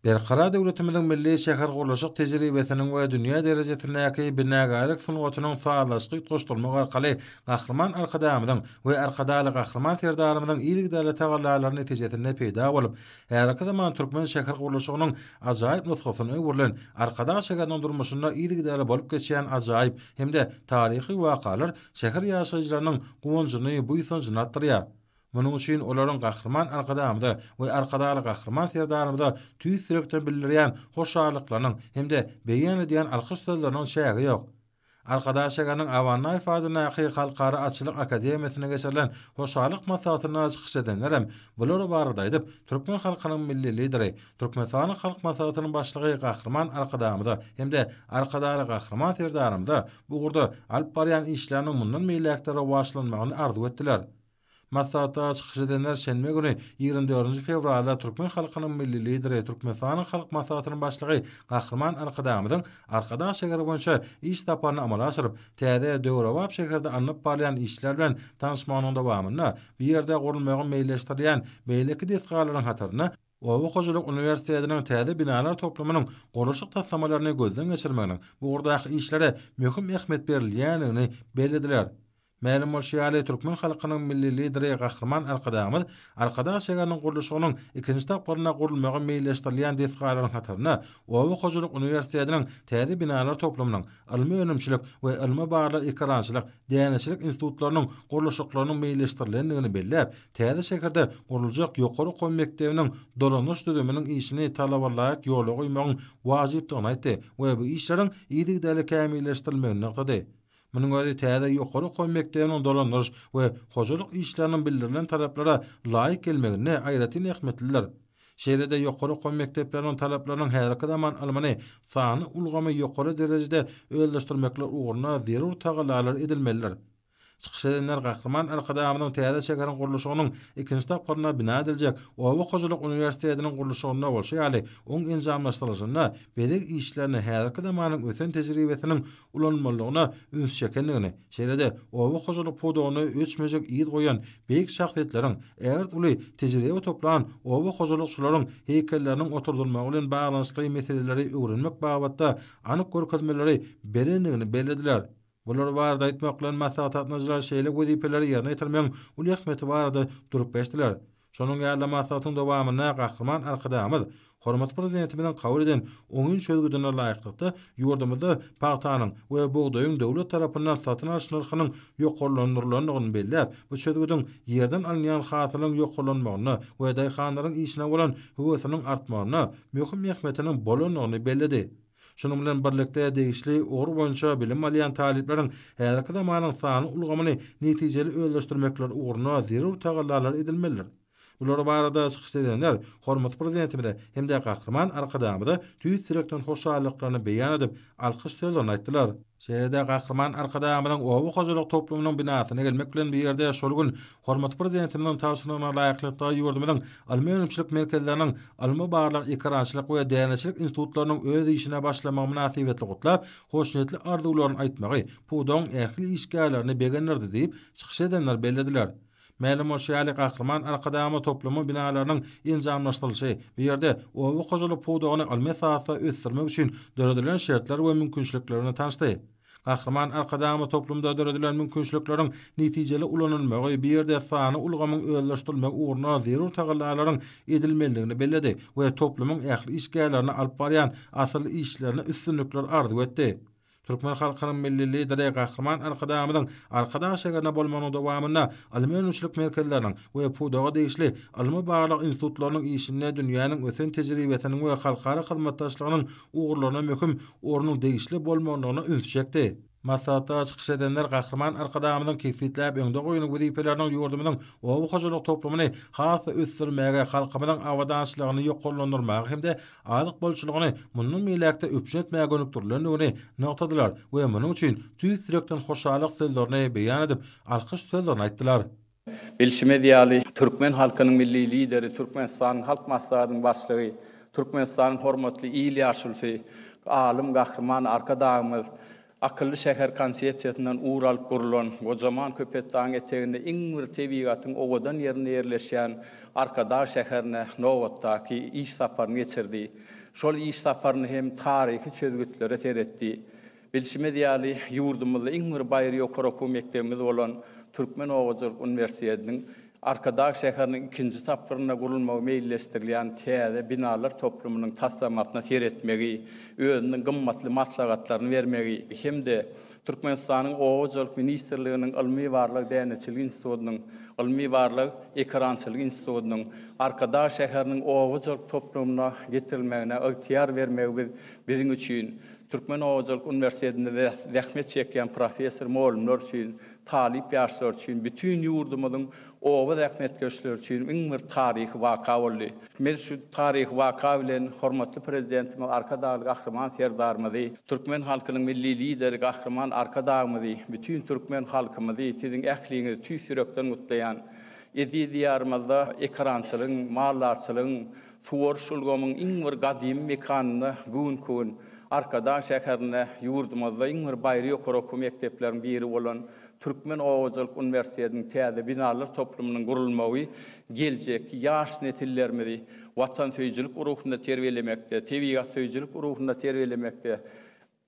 Berkarar döwletimiziň milli şähergurluşyk tejribesiniň we dünýä derejesindäki binagärlik sungatynyň sazlaşyk utgaşdyrmak arkaly Gahryman Arkadagymyzyň we Arkadagly Gahryman Serdarymyzyň yzygiderli tagallalary netijesinde peýda bolup, häzirki zaman türkmen şähergurluşygynyň ajaýyp nusgasyna öwrülen Arkadag şäheriniň durmuşynda yzygiderli bolup geçýän ajaýyp hem-de taryhy wakalar şäher ýaşaýjylarynyň guwanjyny, buýsanjyny artdyrýar. Munuň üçin olaryň Gahryman Arkadagymyza we Arkadagly Gahryman Serdarymyza tüýs ýürekden bildirýän hoşallyklarynyň hem-de beýan edýän alkyş sözleriniň çägi ýok. Arkadag şäheriniň Abannaýew adyndaky Halkara atçylyk akademiýasynda geçirilen hoşallyk maslahatynda çykyş edenlerem bular barada aýdyp, türkmen halkynyň Milli Lideri, Türkmenistanyň Halk Maslahatynyň Başlygy Gahryman Arkadagymyza hem-de Arkadagly Gahryman Serdarymyza bu ugurda alyp barýan işleriniň mundan beýläk-de rowaçlanmagyny arzuw etdiler. Maslahatda çykyş edenler şenbe güni, ýigrimi dördünji fewralda türkmen halkynyň Milli Lideri, Türkmenistanyň Halk Maslahatynyň Başlygy Gahryman Arkadagymyzyň Arkadag şägeri boýunça iş saparyny amala aşyryp, täze, döwrebap şäherde alnyp barylýan işler bilen tanyşmagynyň dowamynda bu ýerde gurulmagy meýilleşdirilýän beýleki desgalaryň hatarynda Oba hojalyk uniwersitetiniň täze binalar toplumynyň gurluşyk taslamalaryny gözden geçirmeginiň bu ugurdaky işlere möhüm ähmiýet berilýändigini bellediler. Mälim bolşy ýaly, türkmen halkynyň Milli Lideri Gahryman Arkadagymyz Arkadag şägeriniň gurluşygynyň ikinji tapgyrynda gurulmagy meýilleşdirilýän desgalaryň hatarynda Oba hojalyk uniwersitetiniň täze binalar toplumynyň, ylmy-önümçilik we ylmy-barlag ekerançylyk, däneçilik institutlarynyň gurluşyklarynyň meýilleşdirilendigini belläp, täze şäherde guruljak ýokary okuw mekdebiniň dolanyş düzüminiň işini talabalaýyk ýola goýmagyň wajypdygyny aýtdy we bu işleriň yzygiderli kämilleşdirilmegini nygtady. Munuň özi täze ýokary okuw mekdebiniň dolandyryş we hojalyk işleriniň bildirilen talaplara laýyk gelmeginde aýratyn ähmiýetlidir. Şeýle-de ýokary okuw mekdepleriniň talaplarynyň häzirki zaman ylmyny, sanly ulgamy ýokary derejede özleşdirmekler ugrunda zerur tagallalar edilmelidir. Çykyş edenler Gahryman Arkadagymyzyň täze şäheriň gurluşygynyň ikinji tapgyrynda bina ediljek Oba hojalyk uniwersitetiniň gurluşygynda bolşy ýaly oň enjamlaşdyrylyşynda bezeg işlerine häzirki zamanyň ösen tejribesiniň ulanylmalydygyna üns çekendigini, şeýle-de oba hojalyk pudagynda öçmejek yz goýan beýik şahsyýetleriň, ägirt uly tejribe toplan oba hojalykçylaryň heýkelleriniň oturdylmagy bilen baglanyşykly meseleleri öwrenmek babatda anyk görkezmeleri berendigini bellediler. Bular barada aýtmak bilen maslahatgatnaşyjylar şeýle wezipeleri ýerine ýetirmegiň uly ähmiýeti barada durup geçdiler. Şonuň ýaly-da maslahatyň dowamynda Gahryman Arkadagymyz hormatly Prezidentimiziň kabul eden oňyn çözgüdine laýyklykda, ýurdumyzda pagtanyň we bugdaýyň döwlet tarapyndan satyn alyş nyrhynyň ýokarlandyrylandygyny belläp, bu çözgüdiň ýerden alynýan hasylyň ýokarlanmagynda we daýhanlaryň işine bolan höwesiniň artmagynda möhüm ähmiýetiniň bolandygyny belledi. Şunuň bilen birlikde, degişli ugur boýunça bilim alýan talyplaryň häzirki zamanyň sanly ulgamyny netijeli özleşdirmekleri ugrunda zerur tagallalar edilmelidir. Bular barada çykyş edenler hormatly Prezidentimize hem-de Gahryman Arkadagymyza tüýs ýürekden hoşallyklaryny beýan edip, alkyş sözlerini aýtdylar. Şeýle-de Gahryman Arkadagymyzyň oba hojalyk toplumynyň binasyna gelmek bilen bir ýerde şol gün Hormatly Prezidentimiziň tabşyrygyna laýyklykda ýurdumyzyň ylmy-önümçilik merkezleriniň, ylmy-barlag, ekerançylyk we däneçilik institutlarynyň öz işine başlamagy mynasybetli gutlap, hoşniýetli arzuwlaryny aýtmagy pudagyň ähli işgärlerini begendirdi diýip, çykyş edenler bellediler. Mälim bolşy ýaly, Gahryman Arkadagymyz toplumy binalarynyň enjamlaşdyrylyşy, bu ýerde oba hojalyk pudagyny ylmy esasda ösdürmek üçin döredilen şertler we mümkinçilikler bilen tanyşdy. Gahryman Arkadagymyz toplumda döredilen mümkinçilikleriň netijeli ulanylmagy, bu ýerde sanly ulgamyň özleşdirilmegi ugrunda zerur tagallalaryň edilmelidigini belledi we toplumyň ähli işgärlerine alyp barýan asylly işlerine üstünlikler arzuw etdi. Türkmen halkynyň Milli Lideri Gahryman Arkadagymyzyň Arkadag şäherinde bolmagynyň dowamynda ylmy-önümçilik merkezleriniň we pudaga degişli ylmy-barlag institutlarynyň işinde dünýäniň ösen tejribesiniň we halkara hyzmatdaşlygynyň ugurlaryna möhüm ornuň degişli bolmalydygyna üns çekdi. Maslahatda çykyş edenler Gahryman Arkadagymyzyň kesgitläp öňde goýan wezipeleriniň ýurdumyzyň oba hojalyk toplumyny has-da ösdürmäge, halkymyzyň abadançylygyny ýokarlandyrmaga hem-de azyk bolçulygyny mundan beýläk-de üpjün etmäge gönükdirilendigini nygtadylar we munuň üçin tüýs ýürekden hoşallyk sözlerini beýan edip, alkyş sözlerini aýtdylar. Bilşimiz ýaly, türkmen halkynyň Milli Lideri, Türkmenistanyň Halk Maslahatynyň Başlygy, Türkmenistanyň hormatly il ýaşulysy, alym Gahryman Arkadagymyz Akylly şäher konsepsiýasyndan ugur alyp gurlan, gojaman Köpetdagyň eteginde iň bir tebigatyň owadan ýerinde ýerleşýän Arkadag şäherine nobatdaky iş saparyny geçirdi. Şol iş saparynda hem taryhy çözgütlere seretdi. Bilşimiz ýaly, ýurdumyzda iň bir baýry ýokary okuw mekdebimiz bolan Türkmen obaçylyk uniwersitetiniň Arkadag şäheriniň ikinji tapgyrynda gurulmagy meýilleşdirilýän täze binalar toplumynyň taslamasyna seretmegi, özüniň gymmatly maslahatlaryny bermegi hem-de Türkmenistanyň Obaçylyk ministrliginiň Ylmy-barlag däneçilik institutynyň, Ylmy-barlag ekerançylyk institutynyň Arkadag şäheriniň obaçylyk toplumyna getirilmegine ygtyýar bermegi biziň üçin Türkmen hojalyk uniwersitetinde zähmet çekýän professor-mugallymlar üçin, talyp ýaşlar üçin, bütin ýurdumyzyň oba zähmetkeşleri üçin iň bir taryhy waka boldy. Biz şu taryhy waka bilen hormatly Prezidentimiz Arkadagly Gahryman Serdarymyzy, türkmen halkynyň Milli Lideri Gahryman Arkadagymyzy, bütin türkmen halkymyzy, siziň ähliňizi tüýs ýürekden gutlaýan. Eziz Diýarymyzda ekerançylygyň, maldarçylygyň, Suwaryş ulgamyň iň bir gadymy mekanynda bu günki gün Arkadag şäherinde ýurdumyzda iň bir baýry ýokary okuw mekdepleriň biri bolan Türkmen oba hojalyk uniwersitetiniň täze binalar toplumynyň gurulmagy geljekki ýaş nesillerimizi watansöýüjilik ruhunda terbiýelemekde, tebigatsöýüjilik ruhunda terbiýelemekde,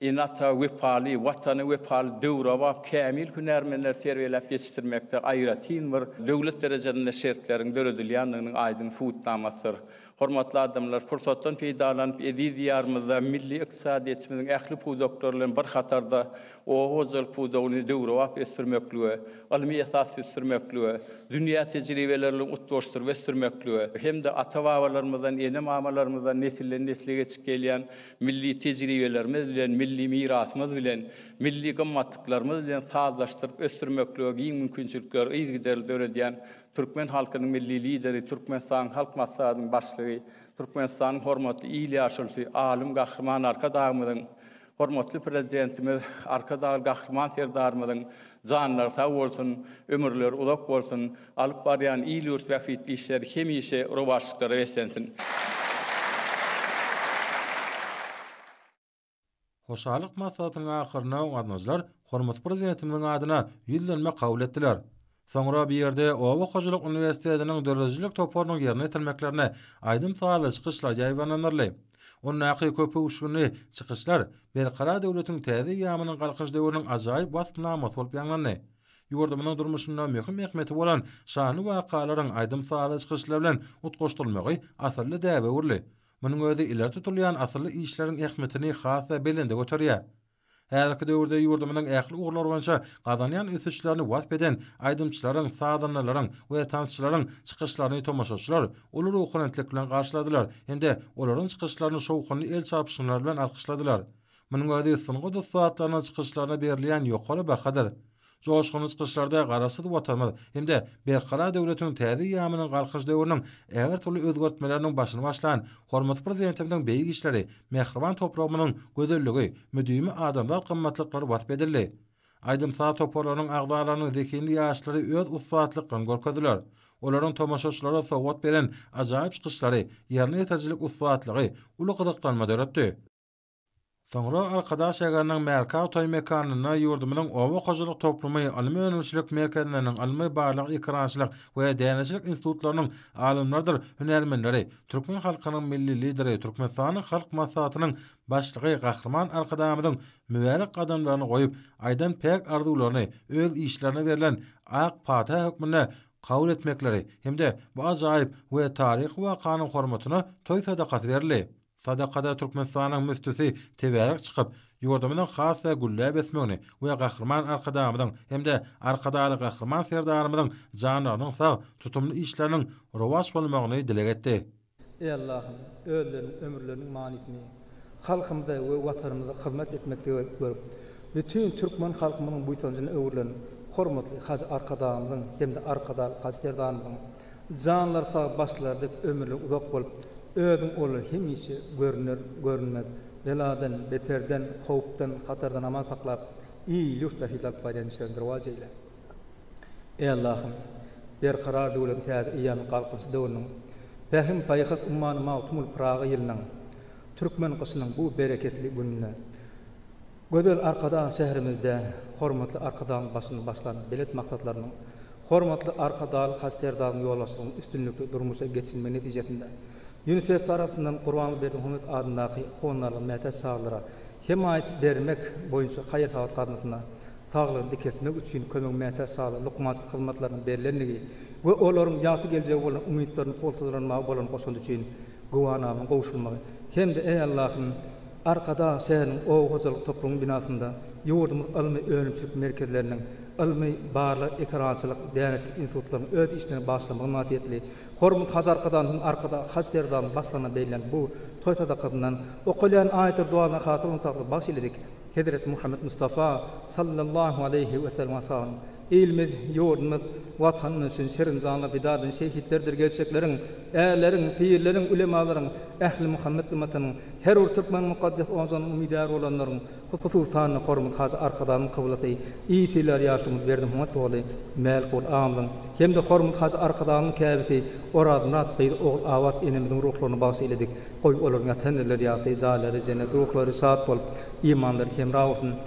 Ene-ata wepaly, Watana wepaly, döwrebap, kämil hünärmenleri terbiýeläp ýetişdirmekde aýratyn bir döwlet derejesinde şertleriň döredilýändiginiň aýdyň subutnamasydyr. Hormatly adamlar, pursatdan peýdalanyp, eziz Diýarymyzda milli ykdysadyýetimiziň ähli pudaklary bilen bir hatarda oba hojalyk pudagyny döwrebap ösdürmeklige, ylmy esasda ösdürmeklige, dünýä tejribeleri bilen utgaşdyryp ösdürmeklige hem-de ata-babalarymyzdan, ene-mamalarymyzdan nesilden-nesle geçip gelýän milli tejribelerimiz bilen, milli mirasymyz bilen, milli gymmatlyklarymyz bilen sazlaşdyryp ösdürmeklige giň mümkinçilikleri yzygiderli döredýän türkmen halkynyň Milli Lideri, Türkmenistanyň Halk Maslahatynyň Başlygy, Türkmenistanyň hormatly il ýaşulysy, alym Gahryman Arkadagymyzyň, hormatly Prezidentimiz Arkadagly Gahryman Serdarymyzyň janlary sag bolsun, ömürleri uzak bolsun! Alyp barýan il-ýurt bähbitli işleri hemişe rowaçlyklara beslensin! Hoşallyk maslahatynyň ahyrynda gaznajylar hormatly Prezidentimiziň adyna ýüzlenme kabul etdiler. Soňra bu ýerde Oba hojalyk uniwersitetiniň döredijilik toparynyň ýerine ýetirmeklerine aýdym-sazly çykyşlar ýaýbaňlandyryldy. Ondaky köpöwüşginli çykyşlar Berkarar döwletiň täze eýýamynyň Galkynyş döwrüniň ajaýyp waspnamasy bolup ýaňlandy. ýurdumyzyň durmuşynda möhüm ähmiýeti bolan şanly wakalaryň aýdym-sazly çykyşlar bilen utgaşdyrylmagy asylly däbe öwrüldi. Munuň özi ileri tutulýan asylly işleriň ähmiýetini has-da belende göterýär. Häzirki döwürde ýurdumyzyň ähli ugurlar boýunça gazanýan ösüşlerini wasp eden aýdymçylaryň, sazandalaryň we tansçylaryň çykyşlaryny tomaşaçylar uly ruhubelentlik bilen garşyladylar hem-de olaryň çykyşlaryny şowhunly el çarpyşmalary bilen alkyşladylar. Munuň özi sungat ussatlarynyň çykyşlaryna berilýän ýokary bahadyr. Joşgunly çykyşlarda Garaşsyz Watanymyz hem-de Berkarar döwletiň täze eýýamynyň Galkynyş döwrüniň ähli-türli özgertmeleriniň başyny başlan hormatly Prezidentimiziň beýik işleri, mähriban topragymyzyň gözelligi, müdimi adamzat gymmatlyklary wasp edildi. Aýdym-saz toparlarynyň agzalarynyň zehinli ýaşlary öz ussatlyklaryny görkezdiler. Olaryň tomaşaçylara sowgat beren ajaýyp çykyşlary, ýerine ýetirjilik ussatlygy uly gyzyklanma döretdi. Soňra Arkadaş Egarnyň Märkaw toý mekanynda ýurdumyzyň oba hojalyk toplumy, alma önümçilik merkezleriniň, alma barlag ekerançylyk we däneçilik institutlarynyň alymlarydyr hünärmenleri, türkmen halkynyň Milli Lideri, Türkmenistanyň Halk Maslahatynyň Başlygy Gahryman Arkadagymyzyň mübärek gadamlaryny goýup, aýdan päk arzuwlaryny öz işlerine berlen ak pata hökmünde kabul etmekleri hem-de bu ajaýyp we taryhy wakanyň hormatyna toý sadakasy berildi. Sadakada Türkmenistanyň müftüsi tebärek çykyp, ýurdumyzyň has-da gülläp ösmegini we Gahryman Arkadagymyzyň hem-de Arkadagly Gahryman Serdarymyzyň janlarynyň sag, tutumly işleriniň rowaç bolmagyny dileg etdi. Eý Allahym, özleriniň ömürleriniň manysyny halkymyza we Watanymyza hyzmat etmekde görüp, bütin türkmen halkymyzyň buýsanjyna öwrülen hormatly Hajy Arkadagymyzyň hem-de Arkadagly Hajy Serdarymyzyň Janlar sag başlar dek ömürler uzak bolup özüň olar hemişe görüner görünmez beladan beterden howpdan hatardan aman saklap il ýurt bähbitli alyp barýan işleriňi rowaç eýle Eý Allahym berkarar döwletiň täze eýýamy galkynyş döwrüniň pähim paýhas ummany Magtymguly Pyragy ýylynyň türkmen gyşynyň bu bereketli gününde Gözel Arkadag şäherimizde hormatly Arkadagymyz başyny başlan belent maksatlarynyň, hormatly Arkadagly Haj Serdaryň ýolbaşçylygynyň üstünlikli durmuşa geçirilmegi netijesinde Ýunisef tarapyndan Gurbanguly Berdimuhamedow adyndaky Honarly mätäç çagalara hemaýat bermek boýunça haýyr-sahawat gaznasyna saglygyny dikeltmek üçin kömegiň mätäç çagalara lukmançylyk hyzmatlarynyň berlendigi we olaryň ýagty geljege bolan umytlaryny pugtalandyrmaga bolan goşandy üçin güwanama gowşurmagy hem-de Eý Allahym, Arkadag şäheriniň oba hojalyk toplumynyň binasynda ýurdumyz ylmy-önümçilik merkezleriniň, ylmy, barlag, ekerançylyk, däneçilik institutlarynyň öz işlerini başlamagy mynasybetli Hormatly Hajy Arkadag hem Arkadag Hajy Serdaryň başlaryna berilýän bu toý sadakasyndan okaýan aýetdir duasyna hasyl ynsaklary bagyş eyledik. Hezreti Muhammet Mustafa, Sallallahu aleýhi we sellem ashabynyň, Ilimiz, ýurdumyz, Watanymyz üçin şerin janly pida eden şehitlerdir gelşekleriň, Ärleriň, pirleriň, ulemalaryň, ähli Muhammet ymmatynyň, her bir türkmeniň mukaddes ojagynyň umydary bolanlaryň, hususan-da, hormat Hajy Arkadagymyzyň kyblasy, ysyýlar ýaşulymyz Berdimyhat doly, Mälikguly agamyzyň hem-de hormat Hajy Arkadagymyzyň käbesi Orazmyrat gyzy Ogulabat enemiziň ruhlaryna bagyş eýledik. Goý, olaryň ýatan ýerleri ýagty, jaýlary jennet, ruhlary şat bolup, imanlary hemra bolsun!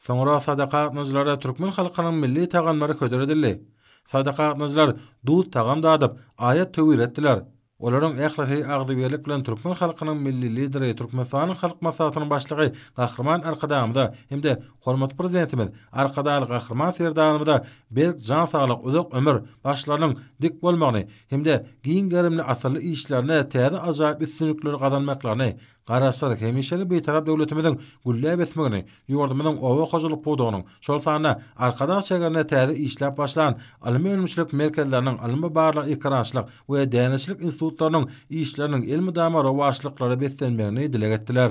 Soňra sadaka gatnadyjylara türkmen halkynyň milli tagamlary hödür edildi. Sadaka gatnadyjylar duz tagam dadyp, aýat-töwir etdiler. Olaryň ählisi agzybirlik bilen türkmen halkynyň Milli Lideri, Türkmenistanyň Halk Maslahatynyň Başlygy Gahryman Arkadagymyza hem-de hormatly Prezidentimiz Arkadagly Gahryman Serdarymyza berk jan saglyk, uzak ömür, başlarynyň dik bolmagyny hem-de giň gerimli asylly işlerinde täze ajaýyp üstünlikleri gazanmaklaryny Garaşsyz, hemişelik Bitarap döwletimiziň gülläp ösmegini, ýurdumyzyň oba hojalyk pudagynyň, şol sanda Arkadag çäginde täze işläp başlan ylmy-önümçilik merkezleriniň, ylmy-barlag ekerançylyk we däneçilik institutlarynyň işleriniň elmydama rowaçlyklara beslenmegini dileg etdiler.